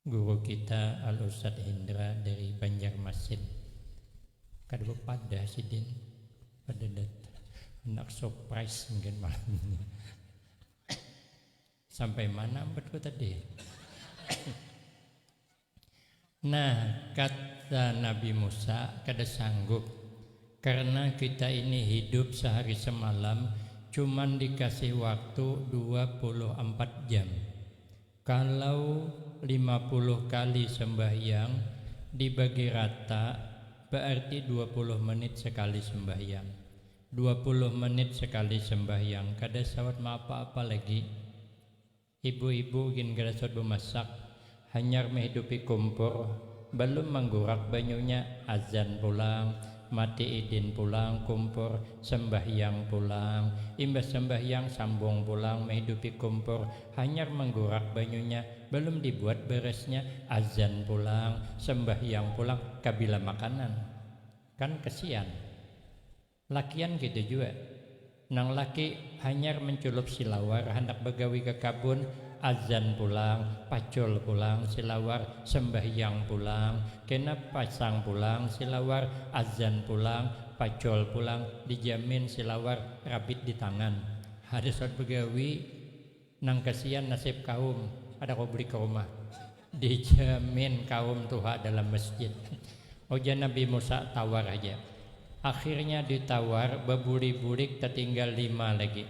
Guru kita Al Ustadz Hindra dari Banjarmasin. Kada bepadah sidin kada datang. Handak surprise mungkin malam ini. Sampai mana ampatku tadi? Nah, kata Nabi Musa, kada sanggup, karna kita ini hidup sahari samalam cuman dikasih waktu dua puluh ampat jam. Kalau lima puluh kali sambahyang dibagi rata baarti dua puluh menit sakali sambahyang. Dua puluh menit sakali sambahyang kada sawat maapa-apa lagi. Ibu-ibu gin garasut bamasak, hanyar mahidupi kumpur, balum manggurak banyunya, azan pulang, mati idin pulang kumpur, sambahyang pulang, imbah sambahyang sambung pulang mahidupi kumpur, hanyar manggurak banyunya, balum dibuat barasnya, azan pulang, sambahyang pulang, kabila makanan? Kan kasian. Lakian kaytu jua. Nang laki hanyar menculup silawar handak bagawi ka kabun, azan pulang, pacul pulang silawar, sembahyang pulang, kena pasang pulang silawar, azan pulang, pacul pulang, dijamin silawar rabit di tangan. Kada sawat bagawi. Nang kasian nasib kaum kada kawa bulik ka rumah. Dijamin kaum tuha dalam masjid. Ujar Nabi Musa tawar haja. Akhirnya ditawar babulik-bulik tatinggal lima lagi.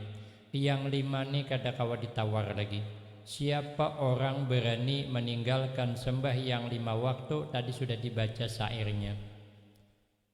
Yang lima ni kada kawa ditawar lagi. Siapa orang berani maninggalkan sembahyang lima waktu tadi sudah dibaca syairnya.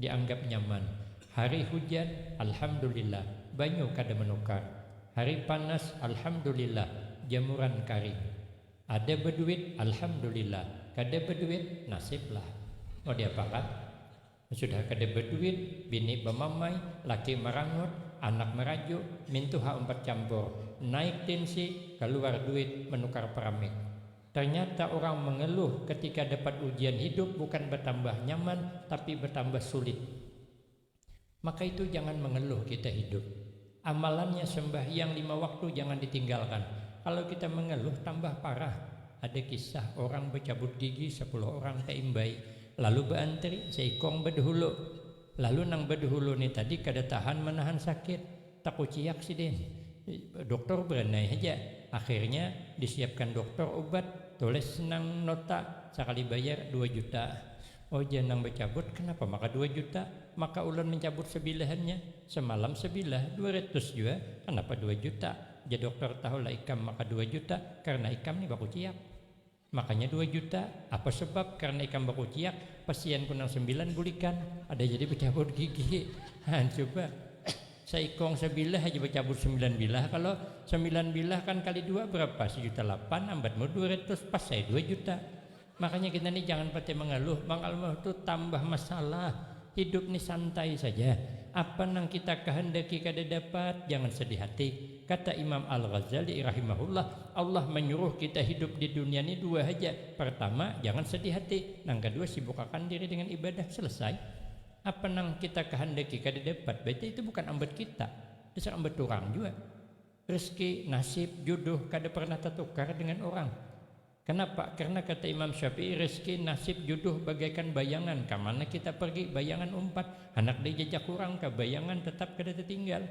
Dianggap nyaman. Hari hujan, Alhamdulillah, banyu kada menukar. Hari panas, Alhamdulillah, jamuran karing. Ada beduit, Alhamdulillah, kada beduit, nasib lah. Mau diapakan? Sudah kada beduit, bini bemamai, laki merangut, anak merajuk, mintuha umpat campur, naik tensi, keluar duit menukar peramik. Ternyata urang mengeluh ketika dapat ujian hidup bukan bertambah nyaman tapi bertambah sulit. Maka itu jangan mengeluh kita hidup. Amalannya sembahyang lima waktu jangan ditinggalkan. Kalau kita mengeluh tambah parah. Ada kisah orang becabut gigi sepuluh orang teimbai lalu beantri seikong bedhulu. Lalu nang bedhulu ni tadi kada tahan menahan sakit. Takuciak sidin. Doktor beranai haja. Akhirnya disiapkan doktor ubat, tulis nang nota, sakali bayar dua juta. Oh jar nang bacabut, kenapa maka dua juta? Maka ulun mencabut sebilahannya. Semalam sebilah dua ratus jua, kenapa dua juta? Jar doktor, tahulah ikam maka dua juta karena ikam ni bakuciak. Makanya dua juta, apa sebab karena ikam bakuciak, pasianku nang sambilan bulikan, ada jadi bacabut gigi. Haan cuba, saikong sabilah haja bacabut sambilan bilah, kalo sambilan bilah kan kali dua berapa, sajuta lapan, ambatmu dua ratus, pas ai dua juta. Makanya kita ni jangan patai mangaluh, mangaluh tu tambah masalah, hidup ni santai saja, apa nang kita kahandaki kada dapat, jangan sedih hati. Kata Imam Al-Ghazali rahimahullah, Allah manyuruh kita hidup di dunia ni dua haja, partama, jangan sadih hati, nang kadua sibukakan diri dengan ibadah. Selesai. Apa nang kita kahandaki kada dapat, baita itu bukan ambat kita, dasar ambat urang jua. Rezeki, nasib, juduh kada parnah tatukar dengan urang. Kanapa? Karna kata Imam Syafi'i, rezeki, nasib, juduh bagaikan bayangan, kamana kita pargi bayangan umpat, handak dijajak urang ka bayangan tatap kada tatinggal.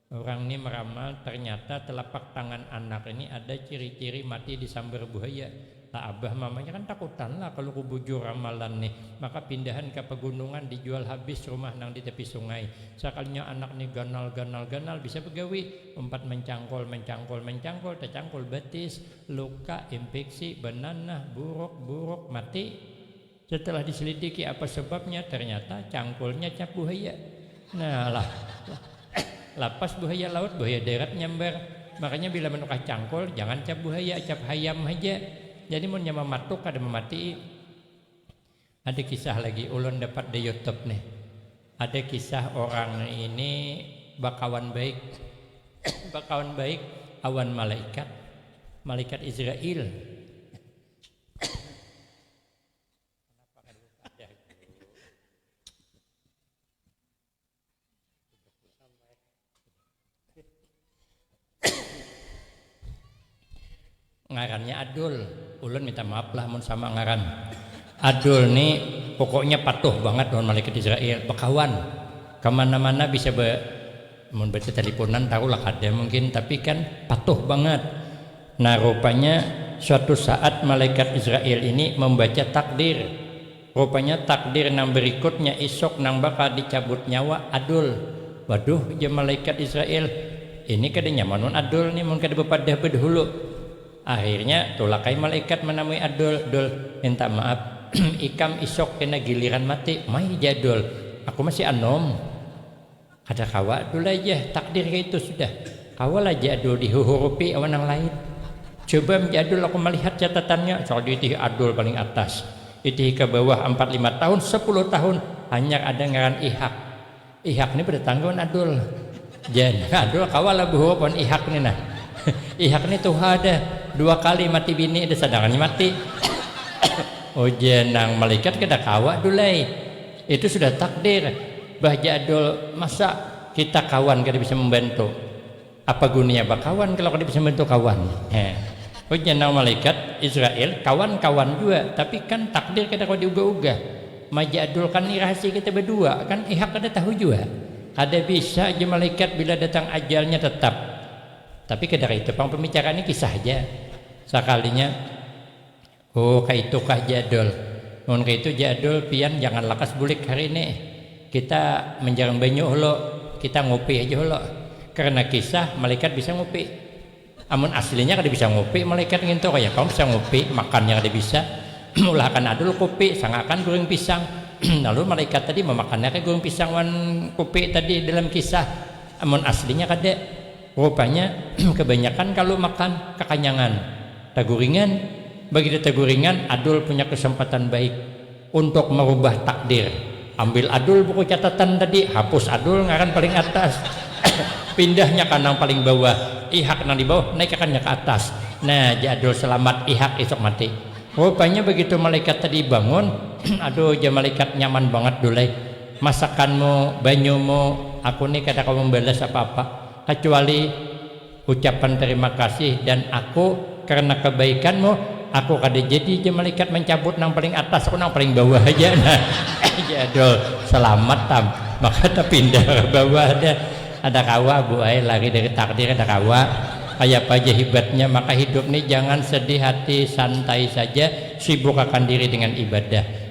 Urang ni meramal ternyata telapak tangan anak ini ada ciri-ciri mati disambar buhaya. Lah abah mamanya kan takutan lah kalu kubujur ramalan ni. Maka pindahan ka pagunungan dijual habis rumah nang di tepi sungai. Sakalinya anak ni ganal ganal ganal bisa bagawi. Umpat mancangkul mancangkul mancangkul tacangkul batis, luka, impiksi, bananah, buruk, buruk, mati. Setelah diselidiki apa sebabnya, ternyata cangkulnya cap buhaya. Nah, lah, lapas buhaya laut, buhaya darat nyambar. Makanya bila manukar cangkul, jangan cap buhaya, cap hayam haja. Jadi munnya mamatuk kada mamatii. Ada kisah lagi, ulun dapat di YouTube nih. Ada kisah orang ini bakawan baik bakawan baik awan malaikat, malaikat Israil. Kenapa kada dipadah guru? Ngarannya Adul. Ulun minta maaf lah mun sama ngaran. Adul ni pokoknya patuh bangat lawan malaikat Israil, bakawan, kamana-mana bisa be Mun batitalipunan tahulah kada mungkin tapi kan patuh bangat. Nah rupanya suatu saat malaikat Israil ini mambaca takdir. Rupanya takdir nang barikutnya isuk nang bakal dicabut nyawa Adul. Waduh ujar malaikat Israil, ini kada nyaman wan Adul ni mun kada bapadah badahulu. Akhirnya tulak ai malaikat manamui Adul, Dul minta maaf ikam isuk kena giliran mati mai ja Dul, aku masih anum. Kada kawa tu lah jah, takdir kaitu sudah. Kawa lah ja Adul dihuhurupi awan nang lain. Coba am ja Adul aku malihat catatannya, cak diitihi Adul paling atas. Itihi ka bawah ampat lima tahun, sapuluh tahun, hanyar ada ngaran Ihak. Ihak ni badatangga wan Adul. Jar Adul kawa lah bahurup wan Ihak ni nah. Ihak ni tuha dah, dua kali mati bini dah sadangannya mati. Ujar nang malaikat kada kawa dul ai. Itu sudah takdir, bah jadul masa kita kawan kada bisa membantu, apa guninya bakawan kalau kada bisa membantu kawan, heh ujar nang malaikat Israil, kawan kawan jua tapi kan takdir kada kawa diubah ubah, majadul kan ni rahasia kita badua kan ihak kada tahu jua, kada bisa jar malaikat bila datang ajalnya tetap, tapi kada kaitu pang pembicaraan ni kisah haja, sakalinya. Oh kaitukah Jadul, mun kaitu Jadul pian jangan lakas bulik hari ini. Kita manjarang banyu hulu, kita ngupi haja hulu. Karna kisah malaikat bisa ngupi. Amun aslinya kada bisa ngupi malaikat ngintu, kaya pang bisa ngupi, makannya kada bisa. Maulahakan Adul kupi, sangakan guring pisang. Lalu malaikat tadi mamakannya kah guring pisang wan kupi tadi dalam kisah, amun aslinya kada. Rupanya kebanyakan kalu makan kakanyangan, taguringan, bagini taguringan adul punya kesempatan baik untuk merubah takdir, ambil adul buku catatan tadi, hapus adul ngaran paling atas, pindahnya ka nang paling bawah, ihak nang di bawah naikakannya ka atas, nah jar adul selamat ihak isuk mati. Rupanya begitu malaikat tadi bangun, aduh jar malaikat nyaman bangat dul ai, Masakanmu, banyumu, aku ni kada kawa mambalas apa-apa kacuali ucapan tarima kasih dan aku karna kabaikanmu aku kada jadi ja malaikat mancabut nang paling atas aku nang paling bawah haja nah jar Adul salamat tam maka tapindah ka bawah dah kada kawa bu ai lari dari takdir kada kawa kayapa ja hibatnya maka hidup ni jangan sedih hati santai saja sibuk akan diri dengan ibadah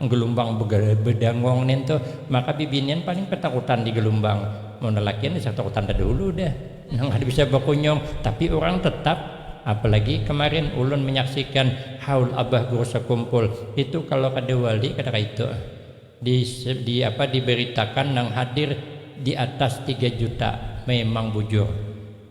Gelumbang bedangong nin tuh, maka bibinian paling ketakutan di gelumbang. Mun lalakian bisa ketakutan tadahulu dah, nang kada bisa bakunyung. Tapi urang tetap, apalagi kamarin ulun manyaksikan haul abah guru sakumpul, itu kalu kada wali kada kaitu. Di apa dibaritakan nang hadir di atas tiga juta, memang bujur.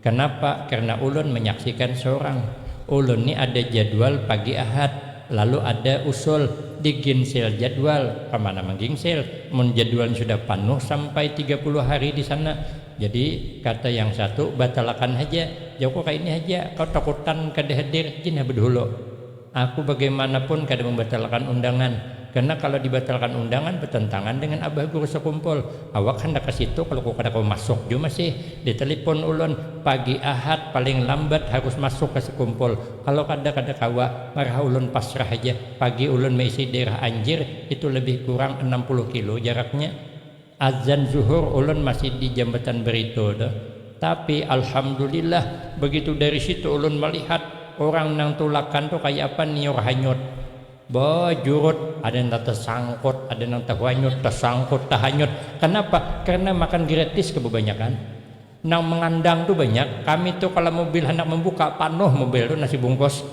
Kenapa? Karena ulun menyaksikan sorang. Ulun ni ada jadwal pagi Ahad, lalu ada usul diginsil jadwal. Kamana mengginsil, mun jadwalnya sudah panuh sampai tiga puluh hari di sana. Jadi, kata yang satu, batalakan haja, jauhku kaini haja, kau takutan kada hadir, jin ha bedahulu. Aku bagaimanapun kada mambatalkan undangan, karena kalau dibatalkan undangan batantangan dengan abah guru sakumpul, awak handak ka situ kalau ku kada kawa masuk jua masih, di talipon ulun, pagi ahad paling lambat harus masuk ka sakumpul, kalau kada kada kawa, marah ulun pasrah haja, pagi ulun maisi daerah anjir, itu labih kurang anam puluh kilo jaraknya. Azan zuhur ulun masih di jambatan beritu tu, tapi alhamdulillah begitu dari situ ulun melihat urang nang tulakan tu kaya apa niur hanyut, bejurut, ada nang tasangkut, ada nang tahanyut, tasangkut, tahanyut, kanapa? Karena makan gratis kebabanyakan. Nang mengandang tu banyak, kami tu kalo mobil handak membuka panuh mobil tu nasi bungkus.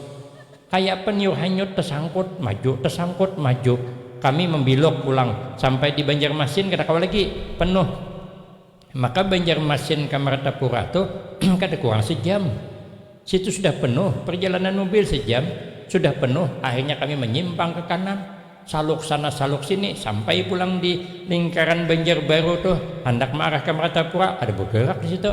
Kayak peniup hanyut tesangkut maju tesangkut maju. Kami membiluk pulang, sampai di Banjarmasin kada kawa lagi, penuh. Maka Banjarmasin ka Martapura tu kada kurang sejam. Situ sudah penuh, perjalanan mobil sejam, sudah penuh, akhirnya kami menyimpang ke kanan. Saluk sana saluk sini, sampai pulang di lingkaran Banjarbaru tuh, handak maarah ka Martapura, kada bagerak di situ.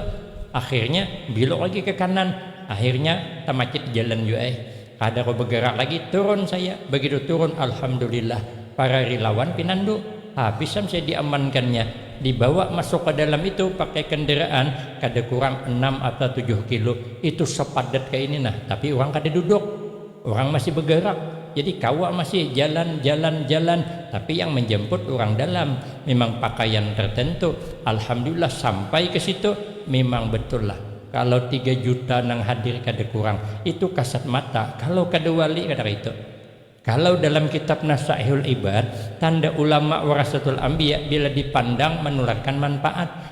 Akhirnya biluk lagi ke kanan, akhirnya tamacit jalan jua ai, kada kawa bagerak lagi, turun saya, bagitu turun alhamdulillah para rilawan pinandu, habis am saya diamankannya, dibawa masuk ka dalam itu pakai kendaraan kada kurang enam atau tujuh kilo, itu sepadat kaini nah, tapi urang kada duduk. Urang masih begerak, jadi kawa masih jalan jalan jalan, tapi yang menjemput urang dalam, mimang pakaian tertentu, alhamdulillah sampai ke situ, mimang betul lah, kalau tiga juta nang hadir kada kurang, itu kasat mata, kalau kada wali kada kaitu. Kalau dalam kitab Nasaihul Ibad, tanda ulama warasatul ambiya bila dipandang manularkan manpaat.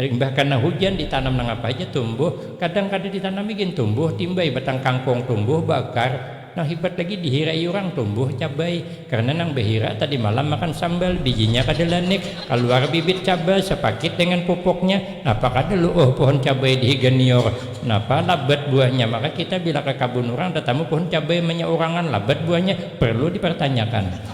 Limbah kana hujan ditanam nangapa haja tumbuh, kadang kada ditanami gin tumbuh, timbai batang kangkung tumbuh, baakar, nang hibat lagi dihirai urang tumbuh, cabai, karna nang bahirak tadi malam makan sambal, bijinya kada lanik, kaluar bibit cabai sapakit dengan pupuknya, napa kada luuh puhun cabai dihiga nior, napa labat buahnya, maka kita bila ka kabun urang tatamu puhun cabai manyaurangan labat buahnya, parlu dipartanyakan.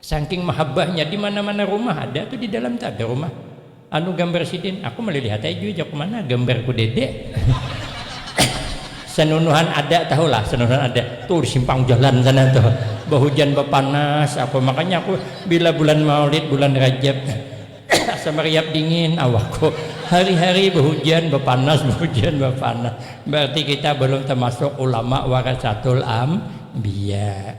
Sangking mahabbahnya di mana-mana rumah ada tu di dalam tu ada rumah anu gambar sidin aku malilihat ai jua jaku mana gambarku dede sanunuhan ada tahu lah sanunuhan ada tu di simpang jalan sana tu bahujan bapanas aku makanya aku bila bulan maulid bulan rajab asa mariap dingin awakku hari-hari bahujan bapanas bahujan bapanas bararti kita balum tamasuk ulama warasatul ambiya.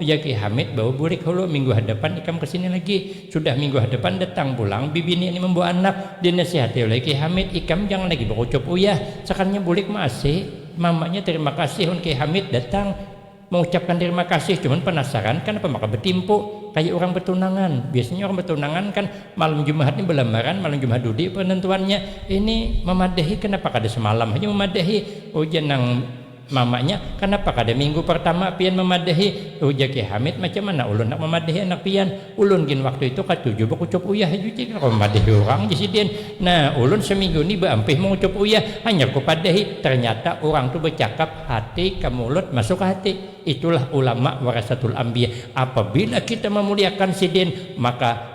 ujar Kiai Hamid bawa bulik hulu, minggu hadapan ikam kesini lagi. Sudah minggu hadapan datang pulang bibini ni membawa anak, dinasihati oleh Kiai Hamid, ikam jangan lagi bakucup uyah, sakannya bulik ma asi. Mamanya terima kasih wan Kiai Hamid datang mengucapkan terima kasih, cuman penasaran kanapa maka betimpu kaya urang betunangan, biasanya urang betunangan kan malam jumahat ni belamaran, malam jumahat dudi penentuannya, ini memadahi kanapa kada semalam haja memadahi, ujar nang. Mamanya, kanapa kada minggu partama pian mamadahi? Ujar Kiai Hamid, macam mana ulun handak mamadahi anak pian? Ulun gin waktu itu katuju bakucup uyah haja ujar Kiai, kawa mamadahi urang jar sidin. Nah, ulun saminggu ni baampih mangucup uyah, hanyar kupadahi, tarnyata urang tu bacakap hati ka mulut masuk ka hati. Itulah ulama warasatul ambiya, apabila kita mamuliakan sidin maka.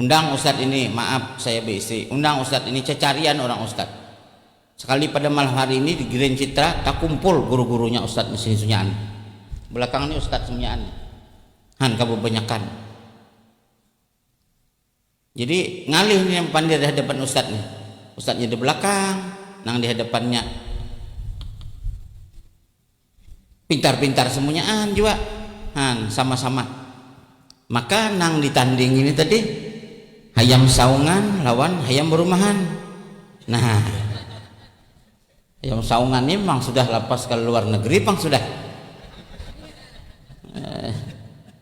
Undang ustad ini, maaf saya beistri, undang ustad ini cacarian orang ustad. Sekali pada malam hari ini di Grand Citra takumpul guru-gurunya ustad mesin sunyaan. Belakang ni ustad sunyaan ni. Han ka bebanyakan. Jadi ngalih ni yang pandir di hadapan ustad ni. Ustadnya di belakang, nang di hadapannya. Pintar-pintar semunyaan jua han sama-sama. Maka nang ditanding ini tadi hayam saungan lawan hayam berumahan. Nah, hayam saungan ini memang sudah lapas ke luar negeri pang sudah.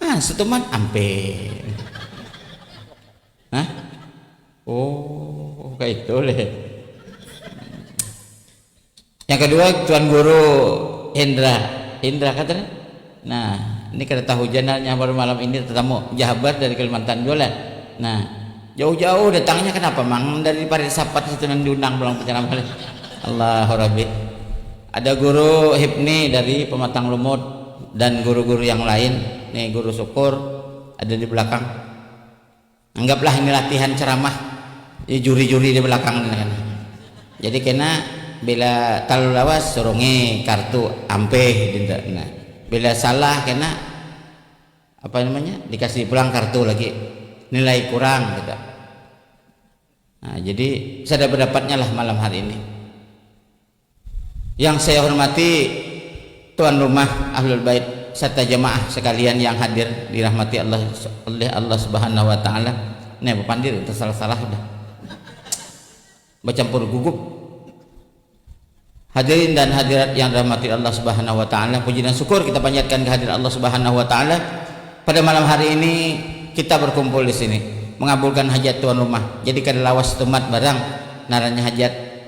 Ah, setuman ampe. Hah? Oh, kayak itu leh. Yang kedua Tuan Guru Hendra. Hendra kata nih. Nah, ini kada tahu janalnya baru malam ini tetamu jahabar dari Kalimantan juga lah. Nah, jauh-jauh datangnya kenapa mang dari Parit Sapat situ nang diundang pulang penceramah. Allahu Rabbi. Ada guru hipni dari pematang lumut dan guru-guru yang lain, nih guru syukur ada di belakang, anggaplah ini latihan ceramah, ini juri-juri di belakang nih kena, jadi kena bila talalu lawas surungi kartu ampih dintu kena, bila salah kena apa namanya dikasi pulang kartu lagi nilai kurang gitu, nah jadi sada bedapatnyalah malam hari ini. Yang saya hormati tuan rumah Ahlul Bait sarta jamaah sakalian yang hadir dirahmati Allah oleh Allah Subhanahu wa Ta'ala, ne bapandir udah salah-salah udah bacampur gugup. Hadirin dan hadirat yang dirahmati Allah Subhanahu wa Ta'ala, puji dan syukur kita panjatkan kehadirat Allah Subhanahu wa Ta'ala pada malam hari ini kita berkumpul di sini mengabulkan hajat tuan rumah, jadi kada lawas tumat barang ngarannya hajat.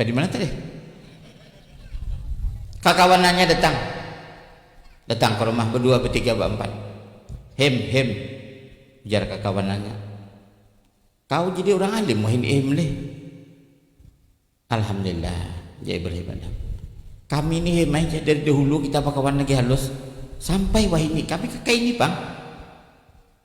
Kaya dimana tadi? Kakawanannya datang, datang ka rumah badua, batiga, baampat. Him, him, ujar kakawanannya, kau jadi urang alim wahini ihim lih. Alhamdulillah, ujar Ibrahim Adham, kami ni him ai ja, dari dahulu kita bakawan lagi halus, sampai wahini kami kakaini pang.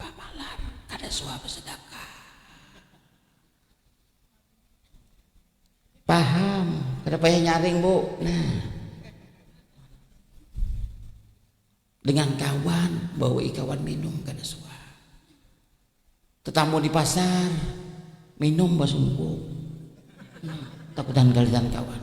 Pamalar kada suah basadakah. Paham kada payah nyaring bu nah. Dengan kawan bawai kawan minum kada suah. Tatamu di pasar minum basungkup takutan galitan kawan.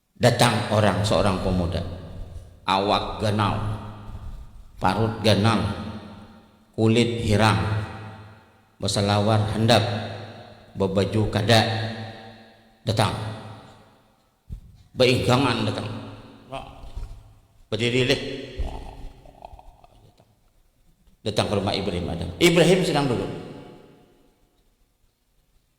Datang orang seorang pemuda, awak ganal, parut ganal, kulit hirang, besalawar handap, bebaju kada, datang. Beingkangan datang. Bediri lih. Datang ke rumah Ibrahim Adam. Ibrahim sedang duduk.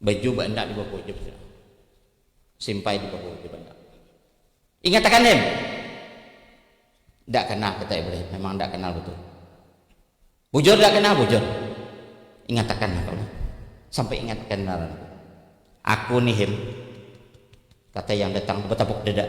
Baju baandak di bawah ujub sudah. Simpai di bawah ujub andak. Ingat akan dem. Ndak kanal kata Ibrahim, memang ndak kanal betul. Bujur ndak kanal bujur. Ingat akan aku nih. Sampai ingat akan ngaran aku. Aku nih him. Kata yang datang betabuk dada.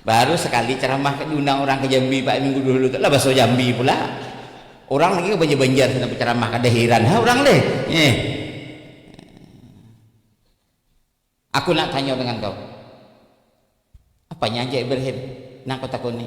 Baru sakali caramah ka diundang urang ka Jambi pa minggu dahulu tu lah baso Jambi pula. Urang lagi ka banjar banjar sana bacaramah kada hiran ha urang leh eh. Aku nak tanyo dengan kau. Apanya aja Ibrahim nang kau takuni.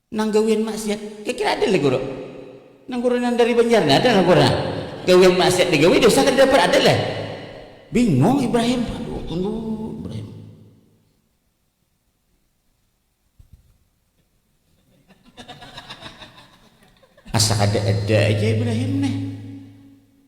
Nang gawian maksiat kaya kira ada leh guru. Nang guru nang dari banjar nih ada nang guru nang gawian maksiat di gawi dosa kada dapat ada leh. Bingung Ibrahim, aduh tunggu Ibrahim. Asa kada ada aja Ibrahim nih.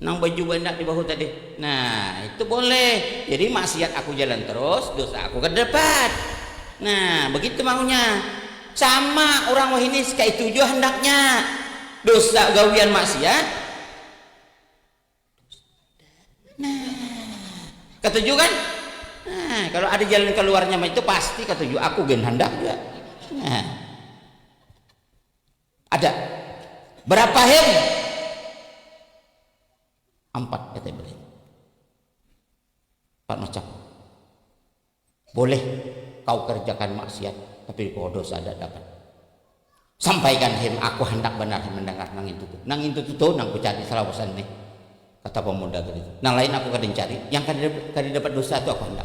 Nang baju bandak di bahu tadi. Nah, itu boleh. Jadi maksiat aku jalan terus, dosa aku kada dapat. Nah, begitu maunya. Sama urang wahini kaitu jua handaknya. Dosa gawian maksiat. Nah, katuju kan? Nah, kalau ada jalan keluarnya itu pasti katuju. Aku gen handak jua. Nah. Ada. Berapa hen? Ampat kata Ibrahim. Empat macam. Boleh kau kerjakan maksiat, tapi kau dosa ada dapat. Sampaikan hen, aku hendak benar mendengar nang itu tuh. Nang itu tuh nang ku cari selawasan nih. Kata pemuda tadi. Nang lain aku kada cari, yang kada dapat dosa tuh aku hendak.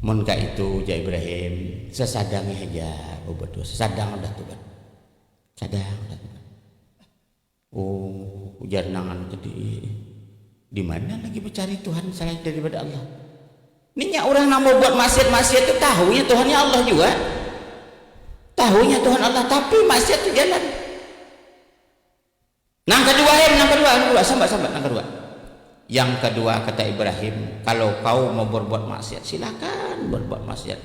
Mun kaitu, ujar Ibrahim, sasadangnya haja babatuh, sasadang udah tu bah, sadang udah tu bah. Oh, ujar nang anu tadi, dimana lagi bacari tuhan salain daripada Allah? Ni nya urang nang babuat maksiat-maksiat tu tahunya tuhannya Allah jua, tahunya tuhan Allah tapi maksiat tu jalan. Nang kadua em, nang kadua, nang kadua, sambat, sambat, nang kadua. Yang kadua kata Ibrahim, kalau kau mau berbuat maksiat silakan berbuat maksiat,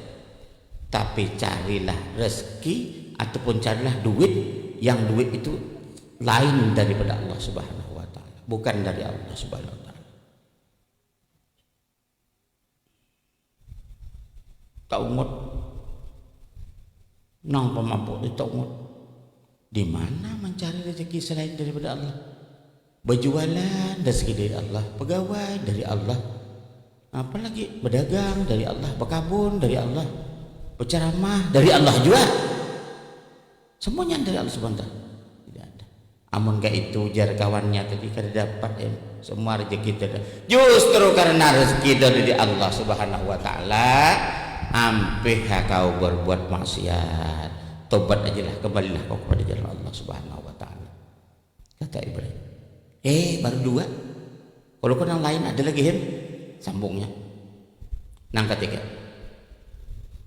tapi carilah rezeki ataupun carilah duit yang duit itu lain daripada Allah Subhanahu Wa Taala, bukan dari Allah Subhanahu Wa Taala. Taungut. Nang pamabuk ni taungut. Dimana mancari rejeki selain daripada Allah. Bajualan rejeki dari Allah, pegawai dari Allah, apa lagi bedagang dari Allah, bekabun dari Allah, beceramah dari Allah jua. Semuanya dari Allah Subhanahu Wa Taala. Amun kaitu, jar kawannya tadi, kada dapat im. Semua rejeki tu ada. Justru karna rejeki tu ada di Allah Subhanahu wa Ta'ala, ampih ha kawa barbuat maksiat. Tobat aja lah, kembalilah kawa kepada jalan Allah Subhanahu wa Ta'ala. Kata Ibrahim. Eh, baru dua. Kalu ko nang lain ada lagi him, sambungnya. Nang katiga.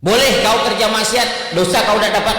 Boleh kawa kerja maksiat, dosa kawa kada dapat.